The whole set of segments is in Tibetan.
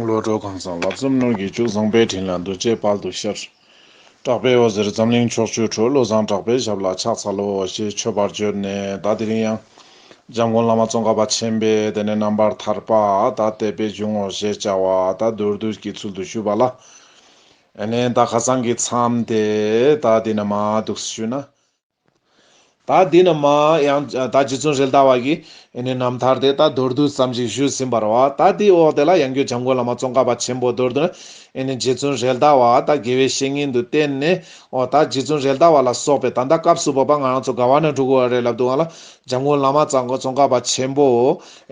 བློ་གྲོས་གང་བཟང་ལབ་ཙམ་སྣོད་ཀྱི་བཅུད་བཟང་པའི་དྲིན་ལ་འདུ་བྱེད་དཔལ་དུ་ཤར། གྲགས་པའི་འོད་ཟེར་འཛམ་གླིང་ཕྱོགས་བཅུར་འཕྲོས་བློ་བཟང་གྲགས་པའི་ཞབས་ལ་ཕྱག་འཚལ་ལོ་ཞེས་མཆོད་པར་བརྗོད་ནས་བདག་དེ་རིང་ཡང། འཇམ་མགོན་བླ་མ་ཙོང་ཁ་པ་ཆེན་པས་དེ་ནས་རྣམ་པར་ཐར་པ་དག་དད་པས་འབྱུང་ངོ་ཞེས་བྱ་བ་དག་མདོར་བསྡུས་ཀྱི་ཚུལ་དུ་ཞུས་པ་ལ། ནས་བདག་ཁ་སང་གི་མཚམས་དེ་དག་འདི་ན་མ་འདུག་ཞུས་ན། ད་འདི་ནི་མ་ཡང་ད་རྗེ་བཙུན་རིལ་དྭགས་བ་ཡི། ནི་རྣམ་ཐར་དེ་ད་མདོར་བསྡུས་ཙམ་ཞིག་ཞུས་ཟིན་པར་བ་ད་དེའི་འོག་དེ་ལ་ཡང་རྒྱུད་བྱམས་མགོན་བླ་མ་ཙོང་ཁ་པ་ཆེན་པོ་མདོར་བསྡུས་ནི། ནི་རྗེ་བཙུན་རིལ་དྭགས་བ་ད་དགེ་བའི་བཤེས་གཉེན་དུ་བསྟེན་ནས། འོ་ད་རྗེ་བཙུན་རིལ་དྭགས་བ་ལ་སོགས་པའི་ད་ལྟ་སྐབས་སུ་བབ་པ་ང་རང་ཚོ་དགའ་བ་ན་འགྲོ་གི་བ་རེད་ལབ་འདུག་ང་ལ་བྱམས་མགོན་བླ་མ་ཙང་ཙོང་ཁ་པ་ཆེན་པོ།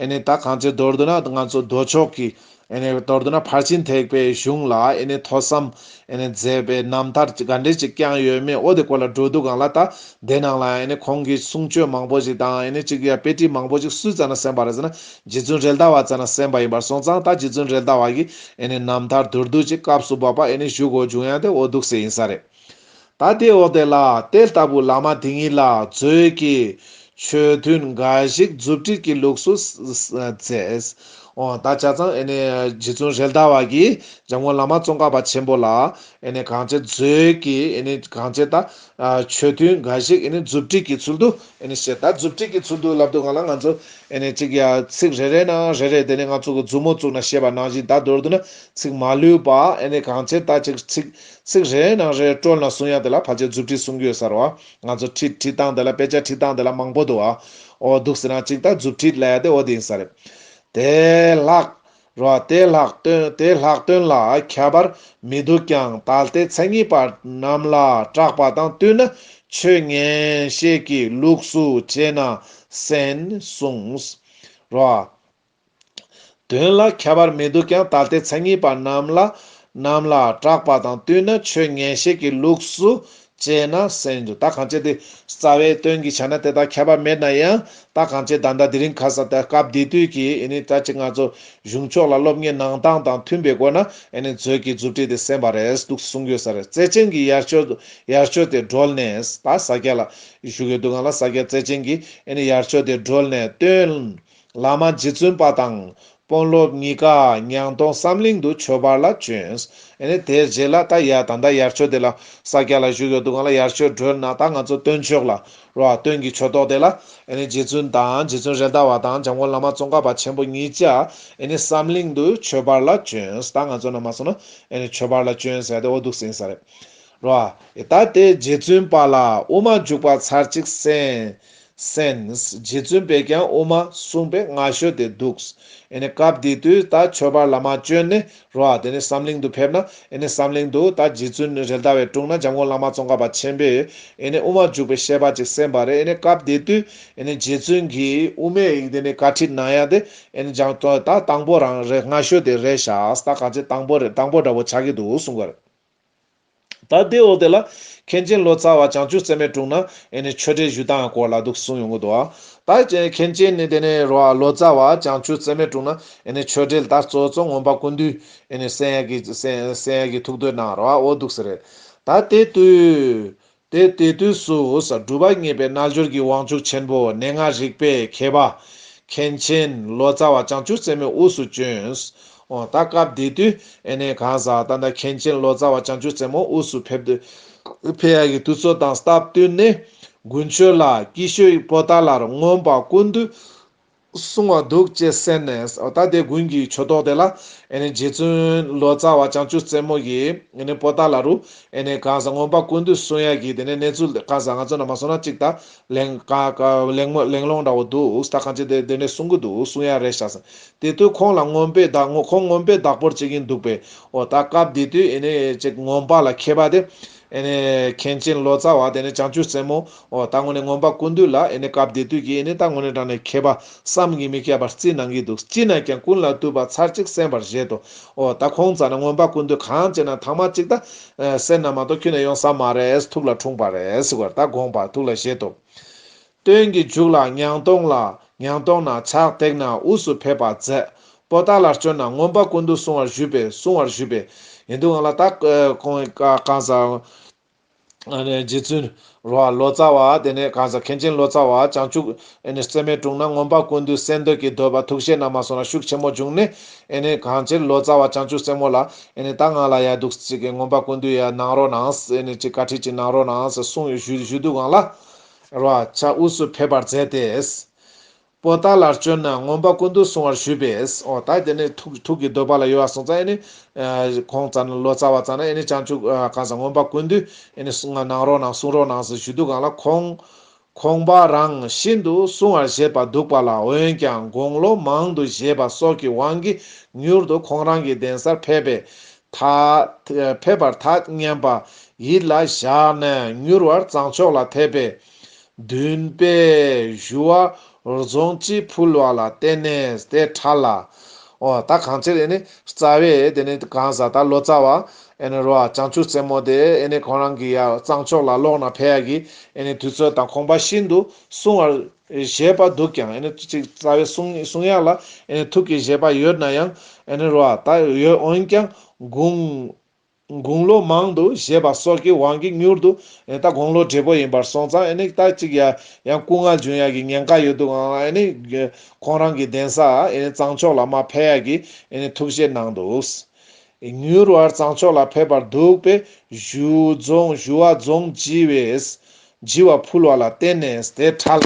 ནི་ད་གང་ཚེ་མདོར་བསྡུས་ན་ང་ཚོ་མདོ་ཕྱོགས་ཀྱི། ཨེ་ནས་མདོར་བསྡུ་ན་ཕར་ཕྱིན་ཐེག་པའི་གཞུང་ལ་ཨེ་ནས་ཐོས་བསམ་ཨེ་ནས་མཛད་པའི་རྣམ་ཐར་གྱི་དགའ་འབྲས་ཅིག་ཀྱང་ཡོད་མེད་ཨོ་དེ་སྐོར་ལ་འགྲོ་འདུག་གང་ལ་དང་དེ་ནང་ལ་ཨེ་ནས་ཁོང་གི་གསུང་ཆོས་མང་པོ་ཞིག་དང་ཨེ་ནས་ཅིག་ཡ་དཔེ་བྲིས་མང་པོ་ཞིག་སུས་བཙལ་ན་གསན་པ་རེད་ཟེར་ན་རྗེ་བཙུན་རེད་ད་བ་བཙལ་ན་གསན་པ་ཡིན་པར་སོང་ཙང་ད་རྗེ་བཙུན་རེད་ད་བ་གིས་ཨེ་ནས་རྣམ་ཐར་མདོར་བསྡུ་ཅིག་སྐབས་སུ་བབ་པ་ཨེ་ནས་བཞུགས་དགོས་བྱུང་ཡང་དེ་འོ་སྡུག་སེ་ཡིན་ས་རེད། ད་དེའི་འོག་དེ་ལ་དེ་ལྟ་བུའི་ལ་མ་དེ་ཉིད་ལ་མཛོད་ཀྱི་ཆོས་ཐུན་འགའ་ཞིག་མཛུབ་དཀྲིས་ཀྱི་ལུགས་སུ་མཛད། ད་བྱ་ཚང་རྗེ་བཙུན་རལ་དྭགས་བ་ཀྱིས་འཇམ་མགོན་བླ་མ་ཙོང་ཁ་པ་ཆེན་པོ་ལ་གང་ཅི་མཛོད་ཀྱི་གང་ཅི་ད་ཆོས་ཐུན་འགའ་ཞིག་མཛུབ་དཀྲིས་ཀྱི་ཚུལ་དུ་བཤད། ད་མཛུབ་དཀྲིས་ཀྱི་ཚུལ་དུ་ལབ་འདུག་ག་ལ་ང་ཚོ་ཅིག་ཚིག་རེ་རེ་ན་རེ་རེ་དེ་ནས་ང་ཚོ་གི་མཛུབ་མོ་བཙུགས་ན་ཤེས་པ་ནང་བཞིན་ད་མདོར་བསྡུ་ན་ཚིག་མ་ལུས་པ་གང་ཅི་ད་ཅིག་ཚིག་ཚིག་རེའི་ནང་རེའི་སྤྲོ་ན་གསུང་ཡ་དེ་ལ་བར་ཆད་རྫུ་འཕྲི་གསུང་གྱོད་གསར་བ། ང་ཚོ་འཕྲི་འཕྲི་སྟངས་དེ་ལ་དཔེ་ཆ་འཕྲི་སྟངས་དེ་ལ་མང་པོ་འདུག་ཨ། འོ་འདུག་ཟེར་ན་གཅིག་ལྟ་རྫུ་འཕྲི་ལས་དེ་འོ་དེ་ཡིན་ས་རེད། དེ་ལྷག་རོ་དེ་ལྷག་དོན་དེ་ལྷག་དོན་ལ་ཁྱད་པར་མི་འདུག་ཀྱང་ད་ལྟའི་མཚན་ཉིད་པ་རྣམས་ལ་སྐྲག་པ་དང་བསྟུན་ན་ཆོས་ངན་ཤེས་ཀྱི་ལུགས་སུ་བྱས་ན་གསན་གསུངས་རོ། དོན་ལ་ཁྱད་པར་མི་འདུག་ཀྱང་ད་ལྟའི་མཚན་ཉིད་པ་རྣམས་ལ་རྣམས་ལ་གྲགས་པ་དང་བསྟུན་ན་ཆོས་ངན་བཤད་ཀྱི་ལུགས་སུ་དཔྱད་ན་གསན་འགྱུར་ད་གང་ཅི་སྟེ་རྩ་བའི་དོན་གྱི་ཆ་ན་དེ་དག་ཁྱད་པར་མེད་ན་ཡང་ད་གང་ཅི་བདག་འདྲ་དེ་རིང་ཁ་ས་དེ་སྐབས་དེ་དུས་ཀྱི་ནི་ད་ཅི་ང་ཚོ་གཞུང་ཕྱོགས་ལ་སློབ་གཉེར་གནང་སྟངས་དང་མཐུན་པའི་སྒོ་ན་ནི་མཛོད་ཀྱི་མཛུབ་ཁྲིད་དེ་གསན་པ་རེད་འདུག་གསུང་དགོས་ས་རེད་བརྩེ་ཆེན་གྱི་ཡར་ཆོད་ཡར་ཆོད་དེ་བགྲོལ་ནས་ད་ས་སྐྱ་ལ་བཞུགས་ཡོད་འདུག་ང་ལ་ས་སྐྱ་བརྩེ་ཆེན་གྱི་ནི་ཡར་ཆོད་དེ་བགྲོལ་ནས་སྟོན་བླ་མ་རྗེ་བཙུན་པ་དང་དཔོན་སློབ་གཉིས་ཀ་ཉང་སྟོང་བསམ་གླིང་དུ་ཆོས་པར་ལ་བྱོན། དེར་རྗེས་ལ་ད་ཡ་ད་ལྟ་ཡར་ཆོས་དེ་ལ་ས་སྐྱ་ལ་བཞུགས་ཡོད་འདུག་གང་ལ་ཡར་ཆོས་སྒྲོལ་ན་ད་ང་ཚོ་སྟོན་མཆོག་ལ་རོ་ཨ་སྟོན་གྱི་ཆོས་ཐོག་དེ་ལ་རྗེ་བཙུན་དང་རྗེ་བཙུན་རེད་མདའ་བ་དང་འཇམ་མགོན་བླ་མ་ཙོང་ཁ་པ་ཆེན་པོ་གཉིས་ཀྱ་བསམ་གླིང་དུ་ཆོས་པར་ལ་བྱོན་ད་ང་ཚོ་ན་མ་སོང་ན་ཆོས་པར་ལ་བྱོན་ཟེར་ཡ་དེ་འོ་འདུག་ཟིན་ས་རེད་རོ་ཨ། ད་དེ་རྗེ་བཙུན་པ་ལ་དབུ་མ་འཇུག་པ་ཚར་གཅིག་གསན། Sense། རྗེ་བཙུན་པས་ཀྱང་དབུ་མ་གསུངས་པའི་སྔ་ཤོས་དེ་འདུག། ཨེ་ནི་སྐབས་དེ་དུས་ད་ཆོས་པར་ལ་མ་བྱོན་ནི་རོ་ཨ་དེ་ནི་བསམ་གླིང་དུ་ཕེབས་ན་ཨེ་ནི་བསམ་གླིང་དུ་ད་རྗེ་བཙུན་རེ་ལྟ་བའི་དྲུང་ན་འཇམ་མགོན་བླ་མ་ཙོང་ཁ་པ་ཆེན་པོས་ཨེ་ནི་དབུ་མ་འཇུག་པའི་ཤེས་པ་ཅིག་གསན་པ་རེད་ཨེ་ནི་སྐབས་དེ་དུས་ཨེ་ནི་རྗེ་བཙུན་གྱིས་དབུ་མའི་ཡིག་དེ་ནི་བཀའ་ཁྲིད་གནང་ཡ་དེ་ཨེ་ནི་སྦྱང་དོན་ད་དང་པོ་རང་རེ་སྔ་ཤོས་དེ་རེད་ཤག་ད་ག་ཚད་དང་པོ་རེད་དང་པོ་འདྲ་བོ་ཆགས་ཀྱི་འདུག་གསུངས་པ་རེད། ད་ལྟའི་འོ་དེ་ལ་མཁན་ཆེན་ལོ་ཙཱ་བ་བྱང་ཆུབ་སེམས་མའི་དྲུང་ན་ཨེ་ནི་ཆོས་འབྲེལ་ཞུས་སྟངས་སྐོར་ལ་འདུག་གསུངས་ཡོང་གི་འདུག་ད་མཁན་ཆེན་ནི་དེ་ནས་རོ་ལོ་ཙཱ་བ་བྱང་ཆུབ་སེམས་མའི་དྲུང་ན་ཨེ་ནི་ཆོས་འབྲེལ་ད་གཙོ་གཙོ་ངོམ་པ་ཀུན་འདུས་ཨེ་ནི་སེང་གེ་སེང་གེ་ཐུགས་འདོད་གནང་རོ་འོ་འདུག་ཟེར་རེད་ད་དེ་དུས་དེ་དེ་དུས་སུ་སྒྲུབ་པ་བརྙེས་པའི་རྣལ་འབྱོར་གྱི་དབང་ཕྱུག་ཆེན་པོ་གནས་ལྔ་རིག་པའི་མཁས་པ། མཁན་ཆེན་ལོ་ཙཱ་བ་བྱང་ཆུབ་སེམས་མའི་དབུས་སུ་བྱོན། འོ་ད་སྐབས་དེ་དུས་ཨེ་ནས་གང་ཟག་ད་ལྟ་མཁན་ཆེན་ལོ་ཙཱ་བ་བྱང་ཆུབ་སེམས་མའི་དབུས་སུ་ཕེབས། ཕེབས་ཡ་གི་དུས་ཚོད་དང་སྟབས་བསྟུན་ནས་དགུན་ཆོས་ལ་སྐྱིད་ཤོད་པོ་ད་ལར་མངོན་པར་ཀུན་འདུས་སྲུང་བ་འདུག་ཅེས་གསན་ནས། ད་དེ་དགུན་གྱི་ཆུ་ཐོག་དེ་ལ། རྗེ་བཙུན་ལོ་ཙཱ་བ་བྱང་ཆུབ་རྩེ་མོ་ཡིས། པོ་ཏཱ་ལ་རུ། གངས་སྔོན་པ་ཀུན་འདུས་གསུང་དབྱངས་ཀྱི་དེ་ནས་གནས་ཚུལ་གང་ཟག་ང་ཚོ་རྣམས་མ་གསུང་ན་ཅིག་དང། གླེང་སློང་འདྲ་བོ་འདུག་ད་གང་ཅི་དེ་དེ་ནས་གསུང་གི་འདུག་གསུང་དབྱངས་རེ་བཞག། དེ་དུས་ཁོང་ལ་རྔོན་པའི་བདག་ཁོང་རྔོན་པའི་བདག་པོར་བྱེད་ཀྱིན་འདུག་པས། ད་སྐབས་དེ་དུས། ཅིག་རྔོན་པ་ལ་མཁས་པ་དེ། ཨེ་ནི་མཁན་ཆེན་ལོ་ཙཱ་བ་དེ་ནི་བྱང་ཆུབ་སེམས་མོ། ད་ངོ་ནས་ངོམ་པ་ཀུན་འདུས་ལ་ཨེ་ནི་སྐབས་དེ་དུས་ཀྱི་ཨེ་ནི་ད་ངོ་ནས་དྲངས་ནས་མཁས་པ་བསམ་གྱིས་མི་ཁྱབ་པར་རྩིས་གནང་གིས་འདུག་ཅི་ན་ཀྱང་ཀུན་ལ་བཏུས་པ་ཚར་གཅིག་གསན་པར་བཞེད་དོ། ད་ཁོང་ཙང་ན་ངོམ་པ་ཀུན་འདུས་གང་བྱེད་ན་དྭངས་མ་གཅིག་ད། སེར་སྣ་མ་གཏོགས་ཁྱོད་ནས་ཡོང་ས་མ་རེད་ཐུགས་ལ་འཁྲུངས་པ་རེད་ཟེར་བར་ད་དགོངས་པར་ཐུགས་ལ་བཞེད་དོ། སྟོན་གྱི་མཇུག་ལ་ཉང་སྟོང་ལ་ཉང་སྟོང་ན་ཕྱག་བཏེགས་ན་དབུས་སུ་ཕེབས་པར་མཛད། པོ་ཏཱ་ལར་བྱོན་ན་ངོམས་པ་ཀུན་ཏུ་བསྲུང་བར་ཞུས་པས་བསྲུང་བར་ཞུས་པས་ཡིན་འདུག་ལ་ད་གོང་གང་ཟག་རྗེ་བཙུན་རོ་བ་ལོ་ཙཱ་བ་དེ་ནས་གང་ཟག་མཁན་ཆེན་ལོ་ཙཱ་བ་བྱང་ཆུབ་སེམས་མའི་དྲུང་ན་ངོམས་པ་ཀུན་ཏུ་གསེར་མདོས་ཀྱི་འདོད་པ་ཐུགས་བཞེད་ན་མ་སོང་ན་ཤུགས་ཆེན་མོ་བྱུང་ནས་གང་ཕྱིར་ལོ་ཙཱ་བ་བྱང་ཆུབ་སེམས་མོ་ལ་ད་ང་ལ་ཡག་འདུག་ཅིག་ངོམས་པ་ཀུན་ཏུ་ཡ་གནང་རོགས་གནང་ཞེས་བཀའ་ཁྲིད་ཅིག་གནང་རོགས་གནང་ཞེས་གསུངས་ཞུས་འདུག་ལ། བར་བ་བྱ་དབུས་སུ་ཕེབས་པར་མཛད་དེ། པོ་ཏཱ་ལར་བཅོལ་ན་ངོམ་པ་ཀུན་ཏུ་བསྲུང་བར་ཞུས་པས། ཨོ་ད་དེ་ནི་ཐུགས་ཀྱི་འདོད་པ་ལ་ཡོད་བར་སོང་ཙང་ཨེ་ནི། ཁོང་ཙང་ནི་ལོ་ཙཱ་བ་ཙང་ན་ཨེ་ནི་བྱང་ཆུབ་གང་ཟག་ངོམ་པ་ཀུན་ཏུ་ཨེ་ནི་གནང་རོགས་གནང་བསྲུང་རོགས་གནང་ཟེར་ཞུས་འདུག་གང་ལ་ཁོང། ཁོང་པ་རང་ཤིན་ཏུ་བསྲུང་བར་བཞེད་པ་འདུག་པ་ལ་འོན་ཀྱང་དགུང་ལོ་མང་དུ་བཞེས་པ་སོགས་ཀྱི་དབང་གིས་མྱུར་དུ་ཁོང་རང་གི་གདན་སར་ཕེབས་པས། དག། ཕེབས་པར་དག་སྙན་པ་ཡིད་ལ་བཞག་ནས་མྱུར་བར་བརྫངས་ཆོག་ལ་དད་པས་འདུན་པས་ཞུ་བ་རྫོང་སྤྱི་ཕུལ་བ་ལ་བརྟེན་ནས་དེ་ཕྲ་ལ། ཨོ་ད་གང་ཕྱིར་ཨེ་ནི་རྩ་བས་དེ་ནི་གང་ཟག་དག་ལོ་ཙཱ་བ་ཨེ་ནི་རོ་ཨ་བྱང་ཆུབ་རྩེ་མོ་དེ་ཨེ་ནི་ཁོང་རང་གི་ཡ་བརྫངས་ཆོག་ལ་ལོག་ན་ཕལ་གྱི་ཨེ་ནི་དུས་ཚོད་དང་ཁོང་པ་ཤིན་ཏུ་སྲུང་བར་བཞེད་པ་འདུག་ཀྱང་ཨེ་ནི་ཅིག་རྩ་བའི་གསུང་གསུང་ཡག་ལ་ཨེ་ནི་ཐུགས་ཀྱི་བཞེད་པ་ཡོད་ན་ཡང་ཨེ་ནི་རུ་བ་དག་ཡོད་འོན་ཀྱང་དགུང། དགུང་ལོ་མང་དུ་བཞེད་པ་སོགས་ཀྱི་དབང་གིས་མྱུར་དུ་ཨེ་ནི་ད་དགོང་ལོ་བགྲེས་པོ་ཡིན་པར་སོང་ཙང་ཨེ་ནི་ད་ཅིག་ཡ་ཡང་སྐུ་ངག་འབྱུང་ཡག་གི་ཉེན་ཁ་ཡོད་འདུག་ཨང་ཨེ་ནི་ཁོང་རང་གི་གདན་ས་ཨེ་ནི་གཙང་ཕྱོགས་ལ་མ་ཕེབས་ཡག་གི་ཨེ་ནི་ཐུགས་བཞེད་གནང་འདུག། མྱུར་བར་གཙང་ཕྱོགས་ལ་ཕེབས་པར་འདུག་པས་བཞུ་རྫོང་བཞུ་བ་རྫོང་བགྱི་བས། བགྱི་བ་ཕུལ་བ་ལ་བརྟེན་ནས་དེ་ཕྲ་ལ།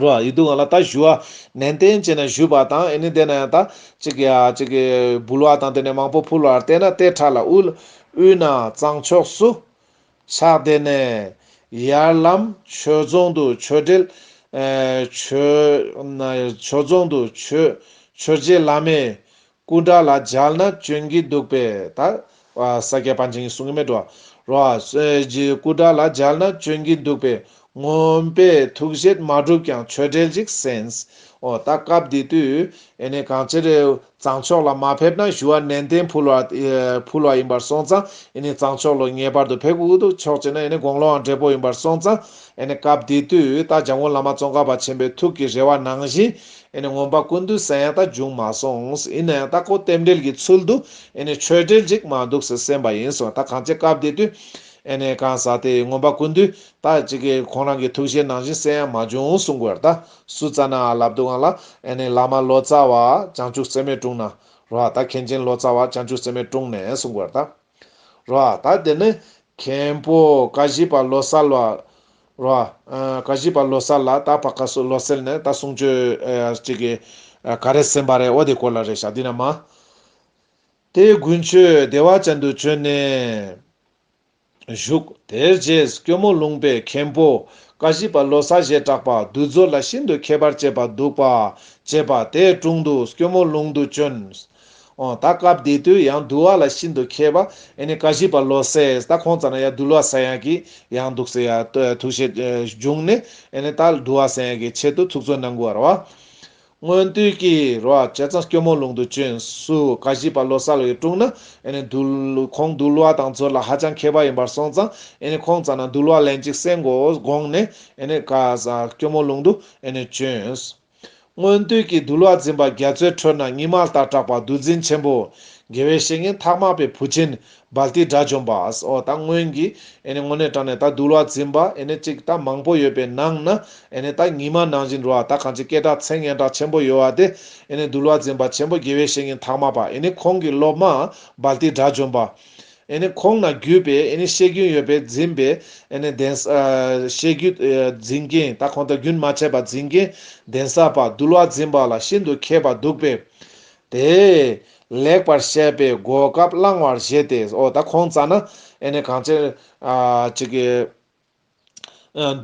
རུ་བ་ཡི་དུག་ང་ལ་ད་བཞུ་བ་ནན་ཏན་བྱས་ནས་བཞུས་པ་དང་ཨེ་ནི་དེ་ན་ཡང་ད་ཅི་གི་ཡ་ཅི་གི་འབུལ་བ་དང་དེ་ནས་མང་པོ་ཕུལ་བར་བརྟེན་ན་དེ་ཕྲ་ལ་དབུལ། དབུལ་ན་གཙང་ཕྱོགས་སུ། ཕྱག་དེ་ནས། ཡར་ལམ་བྱོལ་རྫོང་དུ་བྱོལ་འབྲེལ། བྱོལ། བྱོལ་རྫོང་དུ་བྱོལ། བྱོལ་རྗེས་བླ་མས། སྐུ་འདྲ་ལ་སྦྱར་ན་སྐྱོན་གྱིས་སྡུག་པས་ད། ས་སྐྱའི་པཎ་ཆེན་གྱི་གསུང་གི་མེ་སྒྲོ། རོ། སྐུ་འདྲ་ལ་སྦྱར་ན་སྐྱོན་གྱིས་སྡུག་པས། ངོམས་པས་ཐུགས་བཞེད་མ་གྲུབ་ཀྱང་ཆོས་འབྲེལ་ཅིག་གསན། ཨོ། ད་སྐབས་འདི་དུས། ཨེ་ནས་གང་ཅིར། གཙང་ཕྱོགས་ལ་མ་ཕེབས་ན་ཞུ་བ་ནན་ཏན་ཕུལ་བ། ཕུལ་བ་ཡིན་པར་སོང་ཙང་ཨེ་ནས་གཙང་ཕྱོགས་ལོ་ངེས་པར་དུ་ཕེབས་དགོས་ཀྱི་ཕྱོགས་ཅིག་ན་ཨེ་ནས་དགོང་ལོའང་བགྲེས་པོ་ཡིན་པར་སོང་ཙང་ཨེ་ནས་སྐབས་འདི་དུས་ད་འཇམ་མགོན་བླ་མ་ཙོང་ཁ་པ་ཆེན་པོའི་ཐུགས་ཀྱི་རེ་བ་ནང་བཞིན་ཨེ་ནས་ངོམ་པ་ཀུན་ཏུ་སེང་རྟ་འབྱུང་མ་སོང་ཨེ་ནས་རྟ་ཁོག་རྟེན་འབྲེལ་གྱི་ཚུལ་དུ་ཨེ་ནས་ཆོས་འབྲེལ་ཅིག་མ་འདུག་སེ་སེམས་པ་ཡིན་སོང་ད་གང་ཅི་སྐབས་འདི་དུས་ཨེ་ནས་གང་ཟག་དེ་ངོམ་པ་ཀུན་ཏུ་ད་ཅི་གི་ཁོང་རང་གི་ཐུགས་བཞེད་ནང་བཞིན་སེ་ཡང་མ་བྱུང་སུ་འགོས་རྟ་སུ་རྩ་ན་ཨ་ལབ་འདུག་གང་ལ་ཨེ་ནས་ལ་མ་ལོ་ཙཱ་བ་བྱང་ཆུབ་སེམས་མས་བཀྲུངས་ན་རོ་ཨ་ད་མཁན་ཆེན་ལོ་ཙཱ་བ་བྱང་ཆུབ་སེམས་མས་བཀྲུངས་ནས་སུ་འགོས་རྟ། རོ། ད་དེ་ནི་མཁན་པོ་ཀ་བཞི་པ་ལོ་སར་ལ། རོ། ཀ་བཞི་པ་ལོ་སར་ལ་ད་བ་ཀ་སུ་ལོ་སེར་ནས་ད་གསུང་ཆོས་ཅིག་གི། ག་རེ་སེམས་པ་རེད་འོ་དེ་སྐོར་ལ་རེ་བཞག་འདི་ན་མ། དེ་དགུན་ཆོས་སྡེ་བ་ཅན་དུ་བྱོན་ནས། བཞུགས། དེར་རྗེས་སྐྱོ་མོ་ལུང་པའི་མཁན་པོ་ཀ་བཞི་པ་ལོ་སར་ཞེས་གྲགས་པ་བདུད་རྫོགས་ལ་ཤིན་ཏུ་མཁས་པར་བྱེད་པ་འདུག་པ། བྱེད་པ་དེའི་དྲུང་དུ་སྐྱོ་མོ་ལུང་དུ་བྱོན། ཨོ། ད་སྐབས་འདི་དུས་ཡང་འདུལ་བ་ལ་ཤིན་ཏུ་མཁས་པ་ཨེ་ནི་ཀ་ཤི་པ་བློ་གསལ་ད་ཁོང་ཙང་ན་ཡང་འདུལ་བ་ཟེར་ཡག་གི་ཡང་འདུག་ཟེར་ཡག་ཐུགས་བཞེད་བྱུང་ནས་ཨེ་ནི་ད་འདུལ་བ་ཟེར་ཡག་གི་ཆེད་དུ་ཐུགས་བརྩོན་གནང་དགོས་བར་བ། སྔོན་དུས་ཀྱི་རོ་ཨ་བྱེད་ཙང་སྐྱོ་མོ་ལུང་དུ་བྱོན་སུ་ཀ་ཤི་པ་བློ་གསལ་ཡི་དྲུང་ན་ཨེ་ནི་འདུལ་ཁོང་འདུལ་བ་དང་མཛོད་ལ་ཧ་ཅང་མཁས་པ་ཡིན་པར་སོང་ཙང་ཨེ་ནི་ཁོང་ཙང་ན་འདུལ་བ་ལན་གཅིག་གསན་དགོས་དགོངས་ནས་ཨེ་ནི་ཀ་ཤི་སྐྱོ་མོ་ལུང་དུ་ཨེ་ནི་བྱོན། སྔོན་དུས་ཀྱི་འདུལ་བ་འཛིན་པ་རྒྱ་མཚོའི་ཁྲོད་ན་ཉི་མ་ལྟར་གྲགས་པ་བདུད་འཛིན་ཆེན་པོ། དགེ་བའི་བཤེས་གཉེན་ཐ་མག་པའི་བུ་ཆེན་འབལ་ཏིའི་དགྲ་བཅོམ་པའོ། ད་སྔོན་གྱི་དངོས་གནས་དྲངས་ནས་ད་འདུལ་བ་འཛིན་པ་གཅིག་ད་མང་པོ་ཡོད་པའི་ནང་ན་ད་ཉི་མ་ནང་བཞིན་རོ་ད་གང་ཅི་སྐད་གྲགས་མཚན་སྙན་གྲགས་ཆེན་པོ་ཡོད་བ་དེ་འདུལ་བ་འཛིན་པ་ཆེན་པོ་དགེ་བའི་བཤེས་གཉེན་ཐ་མག་པ་ཁོང་གི་སློབ་མ་འབལ་ཏིའི་དགྲ་བཅོམ་པ། ཁོང་ན་བརྒྱུད་པའི་བཤད་རྒྱུན་ཡོད་པས་འཛིན་པའི་གདན། བཤད་རྒྱུད་འཛིན་མཁན་དང་ཁོང་དང་རྒྱུན་མ་ཆད་པར་འཛིན་མཁན་གདན་ས་པ་འདུལ་བ་འཛིན་པ་ལ་ཤིན་ཏུ་མཁས་པ་འདུག་པས། དེས་ལེགས་པར་བཤད་པའི་གོ་སྐབས་བླང་བར་བཞེད་དེ། ཨོ་ད་ཁོང་རྩ་ན། གངས་ཅན།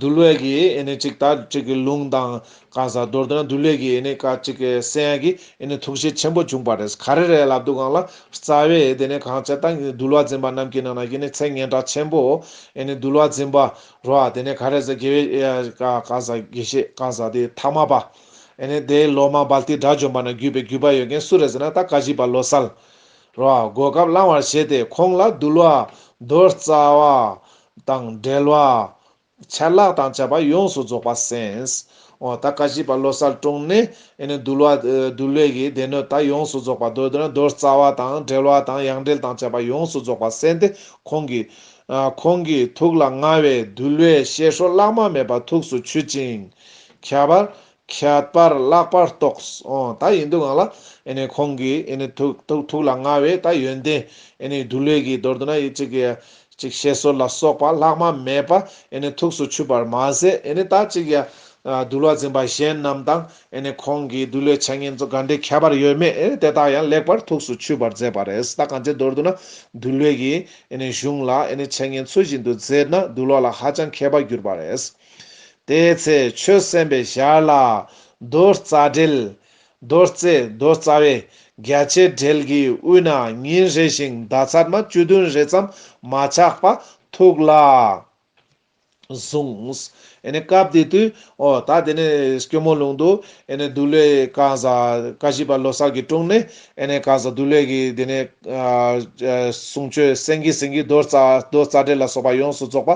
འདུལ་བའི་གནས་གཅིག་དང་གཅིག་གི་ལུང་དང། གང་ཟག་མདོར་བསྡུ་ན་འདུལ་བའི་གནས་སྐབས་གཅིག་གི་སེམས་ཀྱི་ཐུགས་རྗེ་ཆེན་པོ་འབྱུང་བར་རེ་ས་ག་རེ་རེ་ལ་འདུག་གང་ལ་རྩ་བའི་དེ་ནས་གང་བྱེད་དང་འདུལ་བ་འཛིན་པ་རྣམས་ཀྱི་ནང་ན་ཚད་ངན་གྲགས་ཆེན་པོ། འདུལ་བ་འཛིན་པ་རོ་ཨ་དེ་ནས་ག་རེ་ཟ་དགེ་བའི་གང་ཟག་དགེ་བཤེས་གང་ཟག་དེ་ཐ་མ་པ། དེ་ལོ་མང་བལ་ཏི་དགྲ་བཅོམ་པ་ན་བརྒྱུད་པའི་བརྒྱུད་པ་ཡོད་མཁན་སུ་རེ་ཟ་ན་ད་ག་གཞིས་པ་ལོ་སཱལ། རོ་ཨ་གོ་སྐབས་བླང་བར་བྱེད་དེ་ཁོང་ལ་འདུལ་བ་མདོར་རྩ་བ། དང་འབྲེལ་བ། ཆད་ལྷག་དང་བཅས་པ་ཡོངས་སུ་རྫོགས་པ་སེམས། ཨོ། ད་ཀ་བཞི་པ་བློ་གསལ་དྲུངས་ནས། འདུལ་བ། འདུལ་བའི་གི་སྡེ་སྣོད་དག་ཡོངས་སུ་རྫོགས་པ་མདོ་སྡེ་ན་མདོ་རྩ་བ་དང་འབྲེལ་བ་དང་ཡང་འབྲེལ་དང་བཅས་པ་ཡོངས་སུ་རྫོགས་པ་སེམས་ཏེ་ཁོང་གི། ཁོང་གི་ཐུགས་ལ་མངའ་བའི་འདུལ་བའི་བཤད་སྲོལ་བླ་མ་མེད་པ་ཐུགས་སུ་ཆུད་ཅིང། ཁྱད་པར། ཁྱད་པར་བརླག་པར་རྟོགས། ད་ཡིན་འདུག་ངང་ལ། ཁོང་གིས། ཐུགས་ལ་མངའ་བའི་ད་ཡོན་ཏན། བདུད་ལས་ཀྱི་མདོར་བསྡུ་ན། བཤད་སྲོལ་ལ་སོགས་པ་ལྷག་མ་མེད་པ། ཐུགས་སུ་ཆུད་པར་མ་ཟད། ད་ཅིག་ཡང། བདུད་ལ་འཛིན་པ་གཞན་རྣམས་དང། ཁོང་གི་བདུད་ལས་འཆད་ཉན་གཙོ་ག་འདྲའི་ཁྱད་པར་ཡོད་མེད། དེ་དག་ཡང་ལེགས་པར་ཐུགས་སུ་ཆུད་པར་མཛད་པ་རེད། ད་གང་ཅིའི་མདོར་བསྡུ་ན། བདུད་ལས་ཀྱི། གཞུང་ལ། འཆད་ཉན་ཚུལ་བཞིན་དུ་མཛད་ན་བདུད་ལ་ཧ་ཅང་མཁས་པ་གྱུར་པ་རེད། དེའི་ཚེ་ཆོས་གསན་པའི་ཞར་ལ། རྡོ་རྩ་སྦྲེལ། རྡོ་རྩེ་རྡོ་རྩ་བའི་རྒྱ་ཆའི་སྦྲེལ་གྱི་དབུས་ན་ཉིན་རེ་ཞིང་མདའ་ཚར་མ་བཅུ་བདུན་རེ་ཙམ་མ་ཆག་པ་ཐུགས་ལ་བཟུང། སྐབས་དེ་དུས་ཨོ་ད་དེ་ནས་སྐྱོ་མོ་ལུང་དུ། འདུ་ལོའི་ཀ་བཞི་པ་ལོ་སར་གྱི་དྲུང་ནས་ཨེ་ནས་ཀ་བཟའ་བདུད་ལས་ཀྱི་དེ་ནས། གསུང་ཆོས་སེང་གེ་སེང་གེ་རྡོ་རྩ་རྡོ་རྩ་འགྲེལ་ལ་སོགས་པ་ཡོངས་སུ་རྫོགས་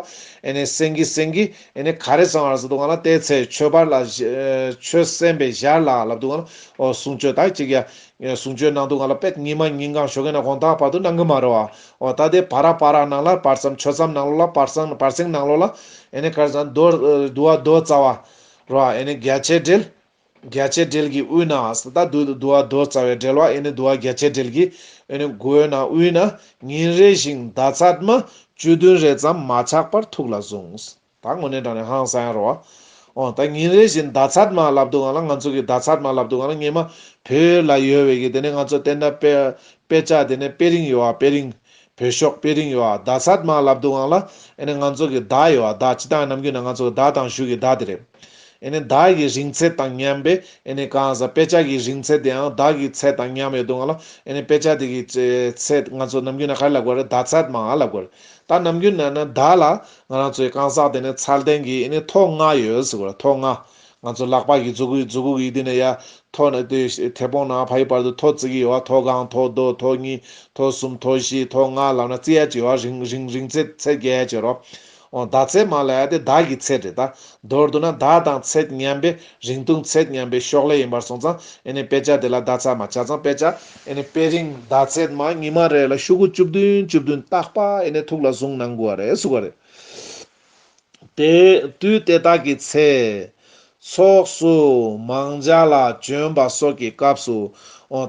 པ། ཨེ་ནས་སེང་གེ་སེང་གེ། ཨེ་ནས་ག་རེ་ཚང་བར་ཟེར་འདུག་ག་ན་བལྟས་ཚེ་ཆོས་པར་ལ། ཆོས་གསན་པའི་ཞར་ལ་ལབ་འདུག་ག་ན། གསུང་ཆོས་དག་ཅིག་ཡ། གསུང་ཆོས་ནང་དུ་ང་ལ་དཔེ་ཉིན་མ་ཉིན་གང་ཞོགས་ཀྱི་ན་གོང་དག་བར་དུ་སྣང་གི་མ་རེད་བ། འོ་ད་དེ་བར་ར་བར་ར་ནང་ལ་བར་ཙམ་ཆོས་ཙམ་ནང་ལོགས་ལ་བར་སང་བར་སེང་ནང་ལོགས་ལ། ཨེ་ནས་ག་རེ་ཚང་བདུད་བདུད་བ་རྡོ་རྩ་བ། རོ། ཨེ་ནས་རྒྱ་ཆད་འགྲེལ། བརྒྱ་བྱེད་སྦྲེལ་གྱི་དབུས་ན་ཨ་སྟ་བདུད་བདུ་བ་རྡོ་རྩ་བའི་སྦྲེལ་བ་ཨེ་ནི་བདུ་བ་བརྒྱ་བྱེད་སྦྲེལ་གྱི་ཨེ་ནི་མགོའི་ནང་དབུས་ན་ཉིན་རེ་ཞིང་མདའ་ཚདམ་བཅུ་བདུན་རེ་ཙམ་མ་ཆག་པར་ཐུགས་ལ་བཟུང། ད་ངོ་ནས་དྲངས་ནས་ཧང་སང་ཡང་རོ། འོ་ད་ཉིན་རེ་བཞིན་མདའ་ཚདམ་ལབ་འདུག་ང་ལ་ང་ཚོ་གི་མདའ་ཚདམ་ལབ་འདུག་ང་ལ་ཉི་མ་བོད་ལ་ཡོད་བའི་གི་དེ་ནས་ང་ཚོ་བསྟན་དགྲ་དཔེ་དཔེ་ལྕག་དེ་ནས་དཔེ་རིང་ཡོད་ཨ་དཔེ་རིང། བོད་ཤོག་དཔེ་རིང་ཡོ་ཨ་ཟླ་ཚར་མ་ལབ་འདུག་ཨང་ལ་ཨེ་ནི་ང་ཚོ་གི་ཟླ་ཡོ་ཨ་ཟླ་སྤྱི་དང་ནམ་རྒྱུན་ན་ང་ཚོ་གི་ཟླ་དང་གཞུག་གི་ཟླ་དེ་རེད་ཨེ་ནི་ཟླ་གི་རིང་ཚད་དང་མཉམ་པའི་ཨེ་ནི་གང་ཟག་དཔེ་ཆ་གི་རིང་ཚད་དེའང་ཟླ་གི་ཚད་དང་མཉམ་ཡོ་འདུག་ཨང་ལ་ཨེ་ནི་དཔེ་ཆ་དེ་གི་ཚད་ང་ཚོ་ནམ་རྒྱུན་ན་ག་རེ་ལབ་དགོས་རེད་ཟླ་ཚར་མ་ལབ་དགོས་རེད་ད་ནམ་རྒྱུན་ན་ན་ཟླ་ལ་ང་རང་ཚོ་གི་གང་ཟག་དེ་ནི་ཚར་ལྡན་གི་ཨེ་ནི་ཐོག་ལྔ་ཡོ་ཟེར་དགོས་རེད་ཐོག་ལྔ། ང་ཚོ་ལག་པ་ཀྱི་རྫུ་གུ་རྫུ་གུ་གི་དེ་ནས་ཡ། ཐོ། དེ་བོང་ནག་ཕ་ཡི་བར་དུ་ཐོ་བརྩི་གི་ཡོད། ཐོ་གང་ཐོ་རྡོ་ཐོ་གཉིས་ཐོ་གསུམ་ཐོ་བཞི་ཐོ་ལྔ་ལབ་ན་བརྩི་ཡ་ཅིག་ཡོད་རིང་རིང་རིང་ཚེ་ཚེ་རྒྱལ་གྱི་རོ། འོ་ད་ཚེ་མ་ལ་ཡ་དེ་བདག་གི་ཚེ་དྲེད། མདོར་བསྡུ་ན་བདག་དང་ཚེ་མཉམ་པའི་རིང་ཐུང་ཚེ་མཉམ་པའི་ཤོག་ལྷེ་ཡིན་པར་སོང་ཙང་ཨེ་ནི་དཔེ་ཆ་དེ་ལ་བདག་ཚ་མ་བྱ་ཙང་དཔེ་ཆ་ཨེ་ནི་དཔེ་རིང་བདག་ཚེ་མ་ཉི་མ་རེ་ལ་ཤུག་གུ་བཅུ་བདུན་བཅུ་བདུན་བཏགས་པ་ཨེ་ནི་ཐུགས་ལ་བཟུང་གནང་དགོས་བ་རེད་གསུག་བ་རེད། དུས་དེ་དག་གི་ཚེ། ཚོགས་སུ་མང་འཇའ་ལ་བྱོན་པ་སོགས་ཀྱི་སྐབས་སུ།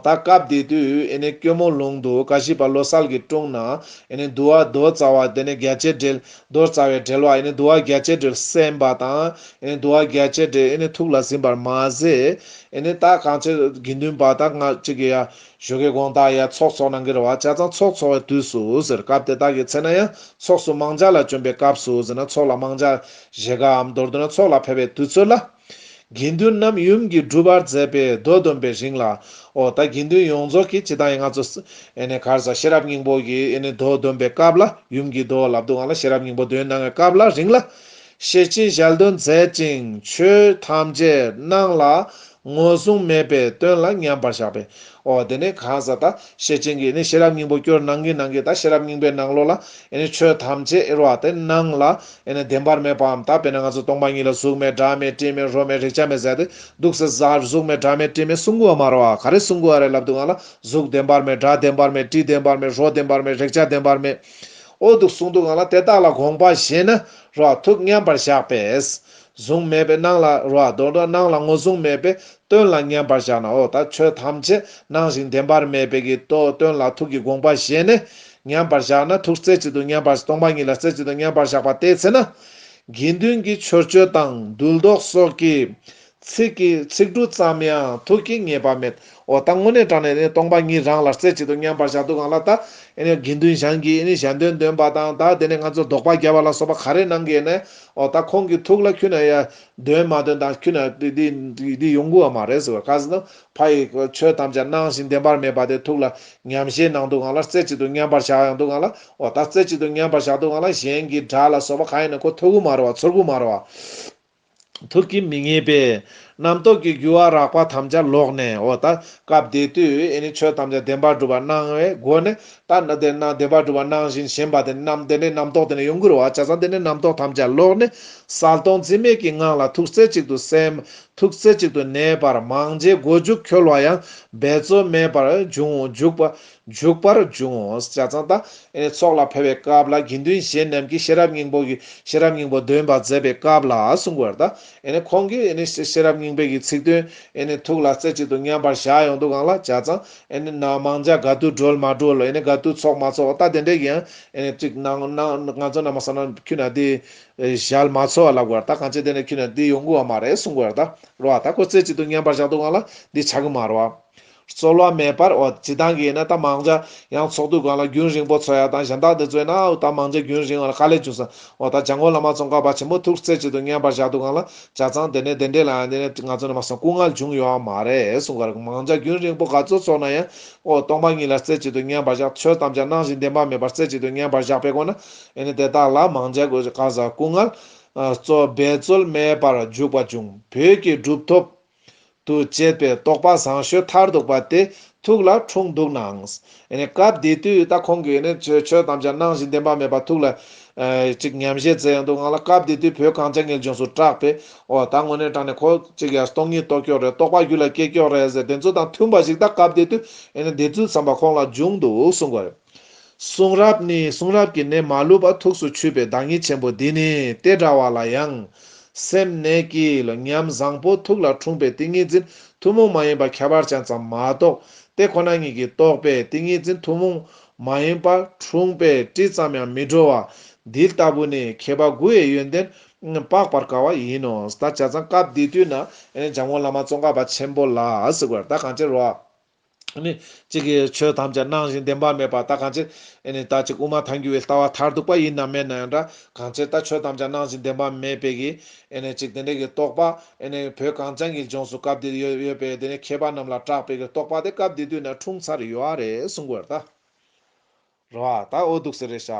ད་སྐབས་དེ་དུས་སྐྱོ་མོ་ལུང་དུ་ཀ་ཤི་པ་ལོ་གསར་གྱི་དྲུང་ན། དུ་བ་རྡོ་རྩ་བ་དེ་ནི་རྒྱལ་བྱེད་འགྲེལ། རྡོ་རྩ་བའི་འགྲེལ་བ་དུ་བ་རྒྱལ་བྱེད་འགྲེལ་གསན་པ་དང། དུ་བ་རྒྱལ་བྱེད་འགྲེལ་ཐུགས་ལ་ཟིན་པར་མ་ཟད། ད་གང་ཕྱིར་དགེ་འདུན་པ་དག་སྔ་ཕྱི་གི། གཞུག་གི་དགོངས་དག་ཡང་ཚོགས་འཚོགས་ན་འགེར་བ་བྱ་ཙང་ཚོགས་འཚོགས་བའི་དུས་སུ་ཟེར་སྐབས་དེ་དག་གི་ཚེ་ན་ཡང་ཚོགས་སུ་མང་ཇག་ལ་བྱོན་པའི་སྐབས་སུ་ཟེར་ན་ཚོགས་ལ་མང་ཇག་བཞེས་སྐབས་མདོར་བསྡུ་ན་ཚོགས་ལ་ཕེབས་པའི་དུས་ཚོད་ལ། དགེ་འདུན་རྣམས་ཡུམ་གྱིས་སྒྲུབ་པར་མཛད་པའི་མདོ་བསྡོམས་པའི་རིང་ལ། ཨོ་ད་དགེ་འདུན་ཡོངས་རྫོགས་ཀྱིས་སྤྱི་དང་ཡང་ང་ཚོ། གར་བཟའ་ཤེས་རབ་སྙིང་པོ་ཀྱིས་མདོ་བསྡོམས་པའི་སྐབས་ལ་ཡུམ་གྱིས་མདོ་ལབ་དུ་ང་ལ་ཤེས་རབ་སྙིང་པོ་འདོན་གནང་བའི་སྐབས་ལ་རིང་ལ། ཤེས་ཀྱིས་ཞལ་འདོན་མཛད་ཅིང་ཆོས་ཐམས་ཅད་སྣང་ལ་ངོས་བཟུང་མེད་པའི་དོན་ལ་མཉམ་པར་བཞག་པས། འོ་དེ་ནི་གང་ཟག་དག་ཤེས་ཅན་གྱིས་ནི་ཤེས་རབ་སྙིང་པོ་སྐྱོར་སྣང་གི་ནང་གི་དག་ཤེས་རབ་སྙིང་པོའི་སྣང་ལོ་ལ་ཆོས་ཐམས་ཅད་དབྱེར་བ་དེ་སྣང་ལ་བདེན་པར་མེད་པའམ་དག་པས་ན་ང་ཚོ་སྟོང་པ་ཉིད་ལ་གཟུགས་མེད་སྒྲ་མེད་དྲི་མེད་རོ་མེད་རེག་བྱ་མེད་ཟེར་ཏེ་འདུག་ཟེར་ས་གཟུགས་མེད་སྒྲ་མེད་དྲི་མེད་གསུང་དགོས་པ་མ་རེད་བ་ག་རེ་གསུང་དགོས་བ་རེད་ལབ་འདུག་ང་ལ་གཟུགས་བདེན་པར་མེད་སྒྲ་བདེན་པར་མེད་དྲི་བདེན་པར་མེད་རོ་བདེན་པར་མེད་རེག་བྱ་བདེན་པར་མེད་འོ་འདུག་གསུང་འདུག་ང་ལ་དེ་དག་ལ་དགོངས་པ་བཞེས་ན་རོག་ཐུག་མཉམ་པར་བཞག་པས། གཟུང་མེད་པའི་སྣང་ལ་རོ། རྡོ་རྡོ་སྣང་ལ་ངོ་བཟུང་མེད་པའི་སྟོན་ལ་མཉམ་པར་བཞག་ན་འོ་ད་ཆོས་ཐམས་ཅད་སྣང་ཞིང་བདེན་པར་མེད་པའི་གི་ཏོ་སྟོན་ལ་ཐུག་གི་དགོངས་པ་བཞེས་ནས་མཉམ་པར་བཞག་ན་ཐུག་རྩེ་གཅིག་ཏུ་མཉམ་པར་སྟོང་པ་ཉིད་ལ་རྩེ་གཅིག་ཏུ་མཉམ་པར་བཞག་པ་ལྟའི་ཚེ་ན། དགེ་འདུན་གྱི་ཆོས་སྤྱོད་དང་འདུལ་ཟློག་སོགས་ཀྱིས་ཚིག་གི་ཚིག་འབྲུ་ཙམ་ཡང་ཐུགས་ཀྱིས་ངེས་པ་མེད། འོ་ད་ངོ་ནས་དྲངས་ནས་སྟོང་པ་ཉིད་རང་ལ་རྩེ་གཅིག་ཏུ་མཉམ་པར་བཞག་འདུག་གང་ལ་དྭ། དགེ་འདུན་ཞང་གིས་ཞལ་འདོན་འདོན་པ་དང་ད་དེ་ནས་ང་ཚོར་ལྡོག་པ་རྒྱབ་པ་ལ་སོགས་པ་ག་རེ་གནང་གི་ནས་འོ་ད་ཁོང་གི་ཐུགས་ལ་ཁྱུད་ན་ཡ། འདོན་མ་འདོན་ད་ཁྱུད་ན་འདི་ཡོང་གི་བ་མ་རེད་ཟེར་བ་ག་ཟེ་ན་ཕ་ཡི་ཆོས་ཐམས་ཅད་སྣང་ཞིང་བདེན་པར་མེད་པ་དེ་ཐུགས་ལ་ཉམས་བཞེས་གནང་འདུག་གང་ལ་རྩེ་གཅིག་ཏུ་མཉམ་པར་བཞག་ཡང་འདུག་གང་ལ་འོ་ད་རྩེ་གཅིག་ཏུ་མཉམ་པར་བཞག་འདུག་གང་ལ་གཞན་གྱི་སྒྲ་ལ་སོགས་པ་གང་ཡིན་ན་ཁོ་ཐོས་གུ་མ་རེད་བ་ཚོར་གུ་མ་རེད་བ། ཐུགས་ཀྱི་མི་ངེས་པས་རྣམ་རྟོག་གི་རྒྱུ་བ་རགས་པ་ཐམས་ཅད་ལོག་ནས་འོ་ད་སྐབས་འདི་དུས་ནི་ཆོས་ཐམས་ཅད་བདེན་པར་སྒྲུབ་པར་སྣང་བའི་སྒོ་ནས་ད་ནི་དེ་རྣམས་བདེན་པར་སྒྲུབ་པར་སྣང་བཞིན་ཞེན་པ་དེ་རྣམས་དེ་ནས་རྣམ་རྟོག་དེ་ནས་ཡོངས་གུར་བར་བྱ་ས་འདི་ནས་རྣམ་རྟོག་ཐམས་ཅད་ལོག་ནས་གསལ་སྟོང་རྩི་མེད་ཀྱི་ངང་ལ་ཐུགས་རྩེ་གཅིག་ཏུ་སེམས། ཐུགས་རྩེ་གཅིག་ཏུ་གནས་པར་མང་རྗེས་སྒོ་འཇུག་འཁྱོལ་བ་ཡང་འབད་རྩོལ་མེད་པར་འབྱུང་འཇུག་པ་འཇུག་པར་འབྱུང་ངོ། བྱ་ཙང་ད་ཨེའི་ཚོགས་ལ་ཕེབས་པའི་སྐབས་ལ་དགེ་འདུན་གཞན་རྣམས་ཀྱིས་ཤེས་རབ་སྙིང་པོ་གི་ཤེས་རབ་སྙིང་པོ་འདོན་པར་མཛད་པའི་སྐབས་ལ་གསུང་བར་ད་ཨེ་ཁོང་གིས་ཤེས་རབ་སྙིང་པོའི་གི་ཚིག་དོན་ཐུགས་ལ་རྩེ་གཅིག་ཏུ་མཉམ་པར་བཞག་ཡོང་དུ་གང་ལ་བྱ་ཙང་ན་མང་ཇག་དགའ་བསྡུ་སྒྲོལ་མ་སྒྲོལ་དགའ་བསྡུ་ཚོགས་མ་ཚོགས་ད་དེ་འདྲའི་གི་ཡང་ཅིག་གནང་ང་ཚོ་རྣམས་བསམ་ན་ཁྱུ་ན་དེ་ཞལ་མ་ཚོ་ལབ་དགོས་ད་གང་ཅི་དེ་འདྲའི་ཁྱུ་ན་དེ་ཡོང་དགོས་བ་མ་རེད་གསུང་བར་ད་རོ་ད་ཁོ་རྩེ་གཅིག་ཏུ་མཉམ་པར་བཞག་དུ་གང་ལ་འདི་བྱ་གི་མ་རོ། རྩོལ་བ་མེད་པར་འོ་ཇི་ལྟར་འགེལ་ན་རྟ་མང་འཇའ་ཡང་ཚོགས་འདུས་སྒང་ལ་རྒྱུན་རིང་པོ་འཚོ་ཡག་དང་གཞན་དག་འདི་རྩོལ་ན་འོ་རྟ་མང་འཇའ་རྒྱུན་རིང་བ་ལ་དཀའ་ལས་བྱུང་ཟེར་འོ་ད་འཇའ་མགོ་ལ་མ་ཚོང་ཁ་བ་ཆེན་པོ་ཐུགས་བརྩེ་ཆེད་དུ་བསྙེན་པར་བཞག་འདུག་སྒང་ལ་འཇའ་ཚང་དེ་ནས་དེ་འདྲས་ལ་འོ་འདི་ནས་ང་ཚོ་ནས་མ་སོང་སྐུ་ངལ་འབྱུང་ཡོད་ཨ་མ་རེད་གསུང་ག་རེ་མང་འཇའ་རྒྱུན་རིང་པོ་ག་ཚོད་ཚོགས་ན་ཡང་འོ་སྟོང་པ་ཉིད་ལ་བརྩེ་ཆེད་དུ་བསྙེན་པར་བཞག་ཆོས་ཐམས་ཅད་སྣང་བཞིན་བདེན་པ་མེད་པར་བརྩེ་ཆེད་དུ་བསྙེན་པར་བཞག་པའི་སྒོ་ན་འོ་ནི་དེ་དག་ལ་མང་འཇའ་གོ་ཟེར་ག་ཟེར་སྐུ་ངལ། འབད་རྩོལ་མེད་པར་འཇུག་པ་འབྱུང་བོད་ཀྱི་གྲུབ་ཐོབ། དུ་བཅད་པའི་རྟོག་པ་བཟང་ཤོས་མཐར་གཏུགས་པ་དེ་ཐུགས་ལ་འཁྲུངས་འདུག་ནའང། སྐབས་དེ་དུས་ད་ཁོང་གིས་ནི་ཆོས་ཐམས་ཅད་སྣང་བཞིན་བདེན་པ་མེད་པ་ཐུགས་ལ། ཅིག་ཉམས་བཞེས་མཛད་ཡོང་འདུག་ངང་ལ་སྐབས་དེ་དུས་བོད་གངས་ཅན་ངེས་འབྱུང་སུ་གྲགས་པས། འོ་ད་དངོས་གནས་དྲང་ནས་ཁོ་ཅིག་ཡར་སྟོང་གཉིས་རྟོགས་ཀྱོག་རེད་རྟོག་པ་རྒྱུད་ལ་སྐྱེས་ཀྱོག་རེད་ཟེར་བདེན་ཚུལ་དང་མཐུན་པ་ཞིག་ད་སྐབས་དེ་དུས་ནི་དེ་ཚུལ་ཙམ་པ་ཁོང་ལ་འབྱུང་འདུག་གསུངས་པ་རེད། གསུང་རབ་ནི་གསུང་རབ་ཀྱི་ནད་མ་ལུས་པ་ཐུགས་སུ་ཆུད་པའི་བདག་ཉིད་ཆེན་པོ་འདི་ནི་ལྟས་འདྲ་བ་ལ་ཡང། སེམས་ནད་ཀྱི་ཉམས་བཟང་པོ་ཐུགས་ལ་འཁྲུངས་པའི་ཏིང་ངེ་འཛིན་ཐུན་མོང་མ་ཡིན་པ་ཁྱད་པར་ཅན་ཙམ་མ་གཏོགས་དེ་ཁོ་ན་ཉིད་ཀྱི་རྟོགས་པའི་ཏིང་ངེ་འཛིན་ཐུན་མོང་མ་ཡིན་པ་འཁྲུངས་པའི་དྲི་ཙམ་ཡང་མི་བྲོ་བ་འདི་ལྟ་བུ་ནི་མཁས་པ་དགུ་བའི་ཡོན་ཏན་དཔག་པར་དཀའ་བ་ཡིན་ནོ། ད་བྱ་ཙང་སྐབས་འདི་དུས་ན་འཇམ་མགོན་བླ་མ་ཙོང་ཁ་པ་ཆེན་པོ་ལ། ད་གང་ཅིར་རོ། གཅིག་གིས་ཆོས་ཐམས་ཅད་སྣང་ཞིང་བདེན་པ་མེད་པར་ལྟ་གང་ཕྱིར། ད་ཅིག་དབུ་མ་ཐལ་འགྱུར་བའི་ལྟ་བ་མཐར་ཐུག་པ་ཡིན་ནམ་མེད་ན་ཡང་འདྲ། གང་ཕྱིར་ད་ཆོས་ཐམས་ཅད་སྣང་ཞིང་བདེན་པ་མེད་པས་ཀྱི། གཅིག་དེ་འདྲའི་གི་རྟོག་པ། བོད་གངས་ཅན་གྱི་ལྗོངས་སུ་སྐབས་འདིར་ཡོད་པའི་དེ་ནས་མཁས་པ་རྣམས་ལ་གྲགས་པའི་གི་རྟོག་པ་དེ་སྐབས་འདི་དུས་ན་འཁྲུངས་ཚར་ཡོད་རེད་གསུང་གི་རེད། ད་འོ་འདུག་ཟེར་རེ་བྱ།